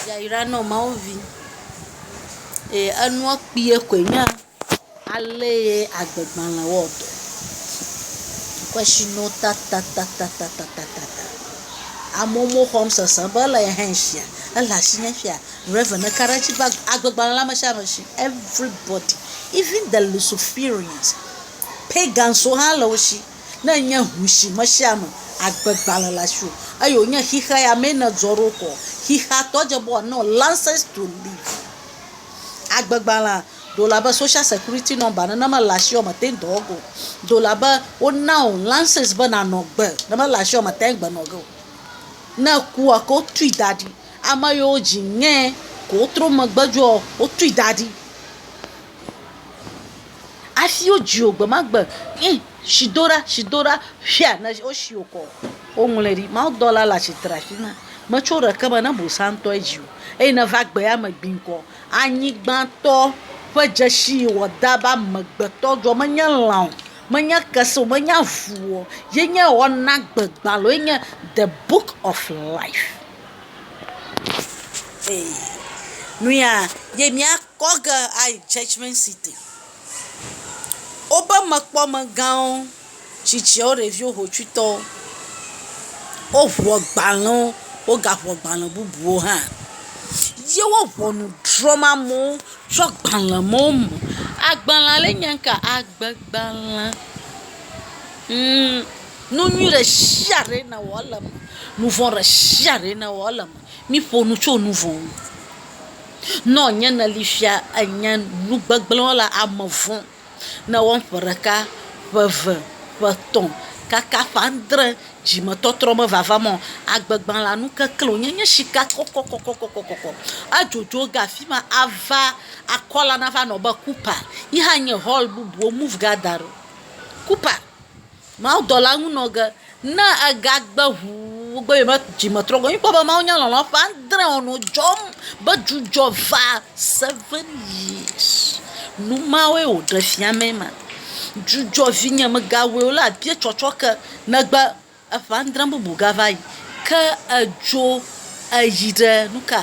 Yayra nɔ Mawu vi. Eye enua kpuie koe nye ale ye agbegbalẽ wɔ dɔ. Kwɛshino tatatatatatatatata. Amewo me xɔm sese be ele ye hã shia, ele ashinyɛ shia, Rev. ne ka ɖe edzi be agbegbalẽ le ameshiame shi. Everybody, even the Luciferians, pagans wo hã le wo shi. Ne enye ŋu si me sia me agbe gbalẽ le asiwò eye wònye xexea ya mee nèzɔ ɖo koa, xexeatɔ dze be wòana wò license to live. Agbe gbalẽa ɖe wòle abe social security number nene ne mele asiwò me te ŋu dɔ wɔ ge o. Ɖe wòle abe wona wò license be nànɔ agbe ne mele asiwò me te ŋu agbe nɔ ge o. Ne ekua ke wotui da ɖi. Ame yiwo dzi ŋee ko wotrɔ megbe dzoa wotui da ɖi. Afi wodzi wò gbe ma gbe ye si do ɖa si do ɖa ƒia ne wosi wò kɔ. Woŋlɔe ɖi. Mawudɔla le atsitre afi ma. Metso ɖeke me ne bosã ŋutɔ dzi wò eye nèva gbea me gbi ŋkɔ. Anyigbãtɔ ƒe dzesi yi wòada be amegbetɔ dzɔ menye lã o, menye kese o, menye avu o, ye nye wɔnagbegbalẽ ye nye the book of life. Ee nuyaa ye mía. Kɔ ge ayi Judgment City. Woƒe mekpɔmegãwo, tsitsiawo, ɖeviwo, hotsuitɔwo, woŋu agbalẽwo, wogaŋu agbalẽ bubuwo hã. Ye wo ŋɔnu drɔ̃m amewo tso agbalẽ mawo me. Agbalẽ ale nye ŋka, agbegbalẽ. Ŋ, nu nyui ɖe sia ɖe ne wɔ ele eme. Nu vɔ̃ ɖe sia ɖe ne wɔ ele eme. Miƒo nu tso nu vɔ̃ ŋu. Nɔ nye neli fia enye nu gbegblẽ wɔla ame vɔ̃ ne ewɔm ƒe ɖeka, ƒe eve, ƒe etɔ̃ kaka ƒe adre dzimetɔtrɔ mevavam o. Agbegbã la nu keklẽ wònye, enye sika kɔkɔkɔkɔkɔkɔ. Adzodzo ge afi ma ava akɔ la nava nɔ be Cooper. Yi hã nye hɔl bubu wo move gathering Cooper. Mawudɔla ŋu nɔ ge. Ne egagbe ŋu be yewome dzi me trɔ gbɔ. Míkpɔ be Mawu nya lɔlɔ̃ ƒe adre o nɔ dzɔm be dzudzɔ va seven years. Nu mawoe wòɖe fia mee ma. Dzudzɔ vinye mègawɔe o la abia tsɔtsɔke negbe eƒe adre bubu gava yi. Ke edzo eyi ɖe nuka?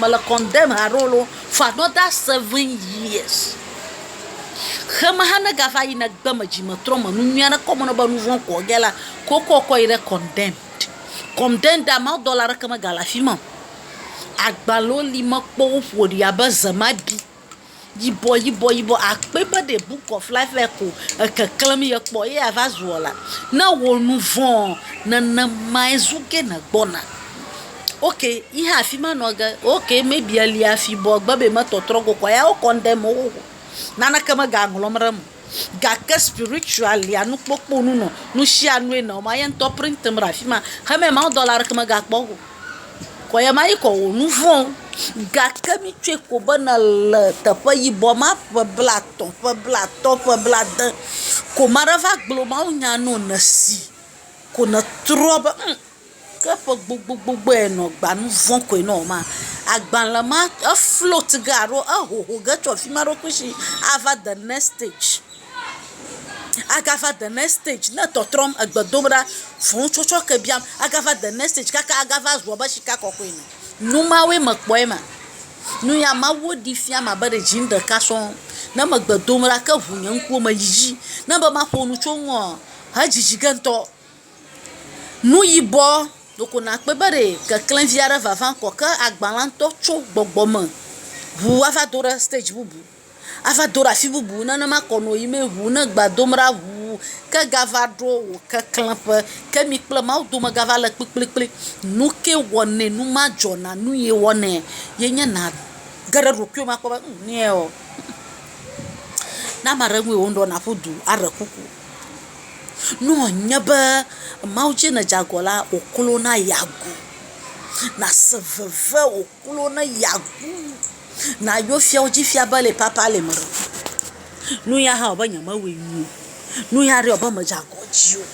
Me le condemn ha ɖewo loo for another seven years. Xe me hã ne gava yi ne gbe me dzi me trɔ me nu nyui aɖe kɔ me nɔ be nu vɔ̃ kɔ ge la, ko kɔ kɔ yi ɖe condemn. Condemn da mawu dɔla aɖeke me ga le afi ma. Agbalẽwo li me kpɔ woƒo ɖi abe zemaɖi. Yibɔ yibɔ yibɔ akpe be ɖe book of life lɛ ko ekeklem ye kpɔ ye ava zuɔ la ne wò nu vɔ̃ nenemae zu ke ne gbɔna. Ok yi hã afi ma nɔ ge ok maybe elia fibɔ gbe be me tɔtrɔ go kɔa ya wo condemn wo. Naneke mega ŋlɔm ɖe eme o. gake spiritualia nukpokpo nu nɔ nusianue nɔ ma ye ŋutɔ print em ɖe afima heme mawudɔla aɖeke megakpɔ eŋu o kɔ ye ma yi kɔ wò nuvɔwo gake mitsɔe ko be nèle teƒe yibɔ ma ƒe blatɔ̃ ƒe blatɔ̃ ƒe blade ko maɖe va gblɔ mawunya na wò nèsi ko nètrɔ be humm. Ke ƒe gbogbogbogboe nɔ gba nu vɔ̃ koe nɔ ma. Agbalẽ ma efloat ge alo ehoho ge tso afi ma ɖo kusi ava the next stage. Agava the next stage ne tɔtrɔm, egbe dom ɖa, fũu tsɔtsɔ ke biam, agava the next stage kaka agava zu abe sika kɔkɔe ene. Nu mawoe mekpɔ ema. Nu ya Mawu ɖee fiam abe ɖe dziŋ ɖeka sɔŋ. Ne megbe dom ɖa ke ŋu nye ŋkuwo me yiyi. Ne be maƒo nu tso eŋua, edzidzi ge ŋutɔ. Nu yibɔ loko nàkpɔe be ɖe keklẽvi aɖe vava ŋkɔ ke agba la ŋutɔ tso gbɔgbɔ me ŋu ava do ɖe stadzi bubu, ava do ɖe afi bubu. Nenema kɔ nɔ yim ŋu ne gba dom ɖa ŋuu ke gava ɖo wò keklẽƒe. Ke mi kple Mawu dome gava le kplikplikpli. Nu kee wɔnɛ nu ma dzɔ na nu ye wɔnɛ ye nye nàge ɖe ɖokuiwò me akpɔ be ŋ nɛɔ, ne ame aɖe ŋue wò ŋɖeɔ, nàƒu du aɖe kuku. Ne wònye be Mawu tsɛ nèdze agɔ la, wòklo na yeagu. Nàse veve wòklo na yeagu. Nàyɔ fiawo dzi fia be le papa le eme. Nu ya hã wɔ be nyemewɔe nyuie o. Nu ya ɖe wɔ be medze agɔ dzi o.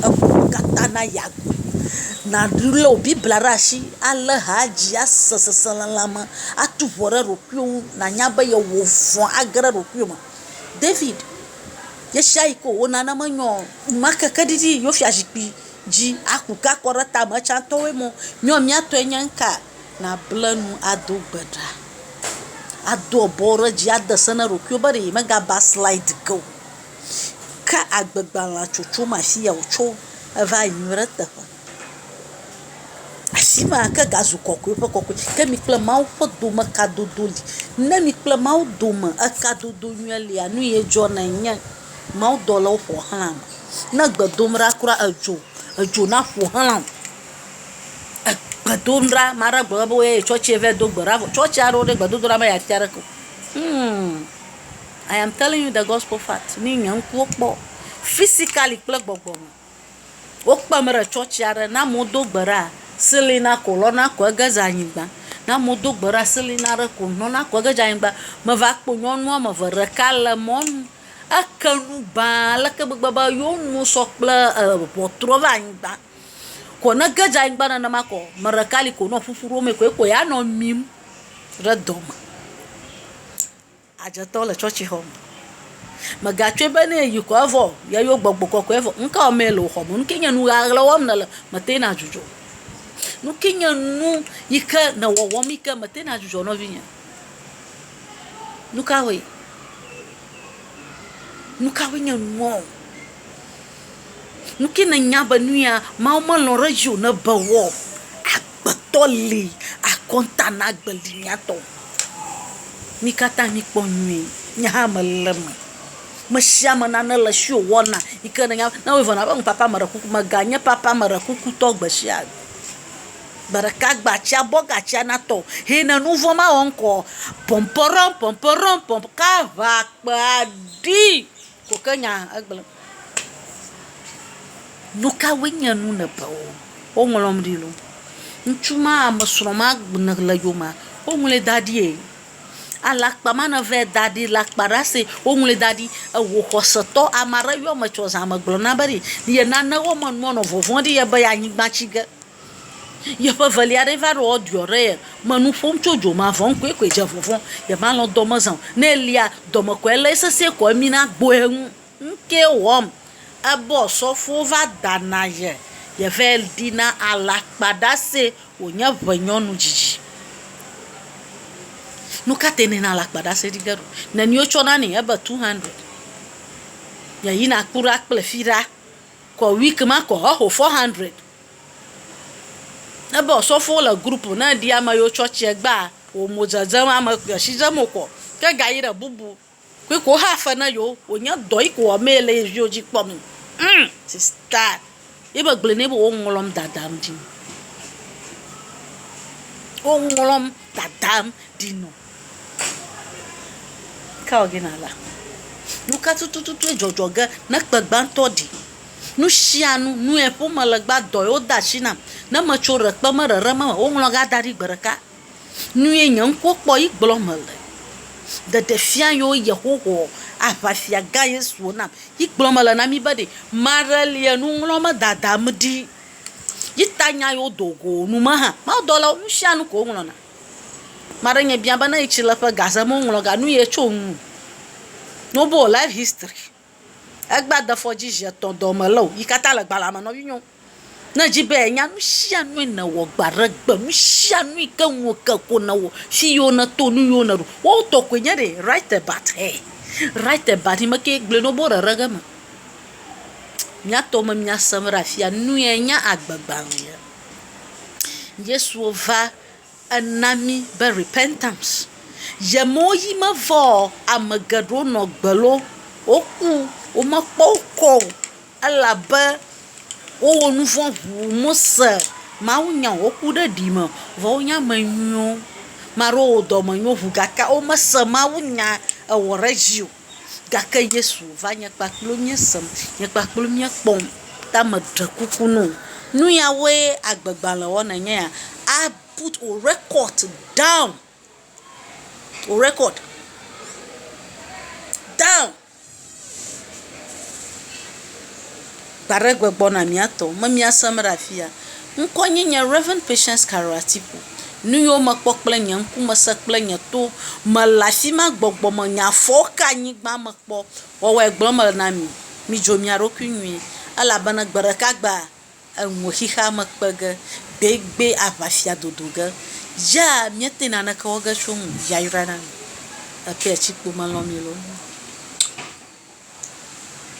Eklo katã na yeagu. Nàlé wò Biblia ɖe asi alé ha dzi ase seselelãme, atu ŋɔ ɖe ɖokuiwò ŋu nànya be yewɔ vɔ̃ age ɖe ɖokuiwò me. David ɣesiaɣi ko wona ne menyɔ o. Enumake ke ɖiɖi yi yewo fiazikpui dzi aku ke akɔ ɖe tame tsãtɔwoe mɔ, Nyɔ mía tɔe nye ŋka? Nàble nu ado gbe ɖa. Ado abɔwo ɖe dzi ade se na ɖokuiwò be ɖe yemegaba slide ge o. Ke agbegbalẽa tsotso me afi ya wòtso va yi ɖe eteƒe. Asi ma ke gazu kɔkɔe ƒe kɔkɔe. Ke mi kple Mawu ƒe dome kadodo li. Ne mi kple Mawu dome ekadodo nyuie lia, nu ye dzɔna enye, mawudɔlawo ƒo xlã wò. Ne egbe dom ɖa kura edzo, edzo na ƒo xlã wò. Egbe dom ɖa, ame aɖe gblɔ be woyɔe yi tsɔtsi va yi do gbe ɖa vɔ tsɔtsi aɖewo ɖe gbedodoɖa me yeatia ɖeke o. Hum I am telling you the gospel fact ni nye ŋkuwo kpɔ physically kple gbɔgbɔme. Wokpem ɖe tsɔtsi aɖe. Ne amewo do gbe ɖa, selena ko lɔna ko ege dze anyigba. Ne amewo do gbe ɖa selena ɖe ko lɔna ko ege dze anyigba. Meva kpɔ nyɔnu wɔme eve. Ɖeka le mɔnu eke nu ba ale ke gbegbe be yewo nuwo sɔ kple e ŋɔtrɔ va anyigba. Ko ne ge dze anyigba nenema ko ame ɖeka li ko ne ƒuƒu ɖom ye ko ye ko ya nɔ mim ɖe dɔme. Adzetɔ le tsɔtsixɔ me. Mègatsɔe be ne èyi ko evɔ yeyɔ gbɔgbɔ kɔkɔea vɔ. Nu kawo mee le wò xɔ me? Nu kae nye nu ʋaʋla wɔm nèle mètena adzudzɔ o? Nu kae nye nu yi ke nɔ wɔwɔm yi ke mètena adzudzɔ o nɔvinye? Nu kawoe? Nu kawoe nye nuawo? Nu kae nènya be nu ya Mawu melɔ̃ ɖe edzi o nebe woawɔ o? Agbetɔ li akɔnta na agbe li mía tɔ. Mi katã mi kpɔ nyuie, nye hã me le eme. Me sia me nane le esi wò wɔna yi ke nènya be, ne wo yɔna be ŋ papa meɖe kuku, me ga nye papa meɖe kuku tɔ gbe sia gbe. Gbe ɖeka gbe atsia bɔ ga tsia na tɔ o. Ye ne nu vɔ̃ ma wɔ ŋkɔ, pɔmpɔɖɔm pɔmpɔɖɔm pɔmpɔ ka ŋa kpea ɖi. Ko ke nya egblẽ. Nukawoe nye nu nèbewo? Woŋlɔm ɖi lo. Ŋutsu ma, ame srɔ̃ ma nèle yomea, woŋlɔe da ɖi e. Alakpa ma nèvɛ da ɖi le akpa ɖe ase, woŋlɔe da ɖi. Ewò xɔsetɔ, ame aɖe yɔ ame tsɔ zã me gblɔ na be ɖe ye nanewo me nua nɔ vɔvɔ̃ ɖi ye be yeanyigba tsi ge. Yeƒe evelia aɖee va ɖo woɖɔ ɖe ye me nu ƒom tso dzo ma vɔn koe koe dze vɔvɔ̃ ye ma lɔ dɔ me zã o ne elia dɔme kɔ ele sese kɔ emi na gbo ye ŋu ŋke wɔm ebɔ sɔfo va da na ye ye vɛ ɖi na ala kpa ɖa se wo nye ʋe nyɔnu dzidzi nu ka te ne na la kpa ɖa se ɖi ge ɖo ne ni wo tsɔ na ni ebe two hundred ye yi na kpɔ ɖa kple fi ɖa kɔ wik ma kɔ eho four hundred Ne be osɔfo le group ne eɖi ame yewo tsɔtsia gbea wo mo dzedzem ame kple asi dzem wokɔ ke ga yi ɖe bubu kui ko ha fe ne yewo wonye dɔ yi ko wɔmee le ye viwo dzi kpɔm hum sista ye be gblɔe nɛ be wo ŋlɔm dadam ɖi wo ŋlɔm dadam ɖi nɔ. Nu ka tututue dzɔdzɔ ge ne kpe gbãtɔ ɖi? Nu sia nu, nue ƒom mele gbã, dɔe wode asi nam. Ne metso ɖe kpe me ɖeɖe me, woŋlɔ ga da ɖi gbe ɖeka. Nue nye ŋkuwo kpɔ ye gblɔm mele. Ɖeɖefia yio Yehowa, aʋafia gã Yesu wò nam. Yi gblɔm mele na mí be ɖi. Ame aɖe li enuŋlɔ me dadam ɖi. Yi ta nya yio do go nu me hã. Mawudɔlawo, nu sia nu ko woŋlɔna. Maɖe nye bia be ne yi tsi le ƒe gaze me ŋlɔ ga nu ye tso ŋu no bo life history egba defɔ dzi zi etɔ dɔ me leo yi kata le gbalea me nɔ vinyo ne dzi be nya nusia nue ne wɔ gba ɖe gbe nusia nue ke ŋu wo ke ko ne wɔ fi yo ne to nu yo ne ɖu wo tɔ koe nye ɖe right about he right about yi me ke gble no bo ɖeɖe ge me mia tɔ me mia sem ɖe afia nue nya agbe gbalea. Yesuɔ va ena mí be repentance. Ye me wo yí me vɔ ɔ, ame geɖe wo nɔ gbe lɔ wo ku. Wo me kpɔ wo kɔ o elabe wo wɔ nuvɔ̃ ŋu Mose Mawu nya o. Wo ku ɖe ɖi me. Vɔ wo nyi ame nyuiwo. Maɖewo wɔ dɔmenyo ŋu gake wo me se Mawu nya ewɔ ɖe edzi o. Gake Yesu va nye kpakplo mía sem, nye kpakplo mía kpɔm, ta me ɖe kuku no. Nu ya woe agbe gbalẽ wɔ na nye ya. A put o record down, o record down. Gbaɖegbe gbɔna mía tɔ me míasem ɖe afia. Ŋkɔ nye nye Rev. Patience Carol Atiku. Nu yiwo mekpɔ kple nye ŋku me se kple nye to me le afi ma gbɔgbɔ me nye afɔwo ka anyigba me kpɔ wɔwɔe gblɔm mele na mi. Midzo mia ɖokui nyuie elabena gbe ɖeka gbea eŋue xexea me kpe ge gbegbe aʋafia dodo ge ya míete naneke wɔ ge tso ŋu yayra na mi. Epia tsikpo melɔ̃ mi loo.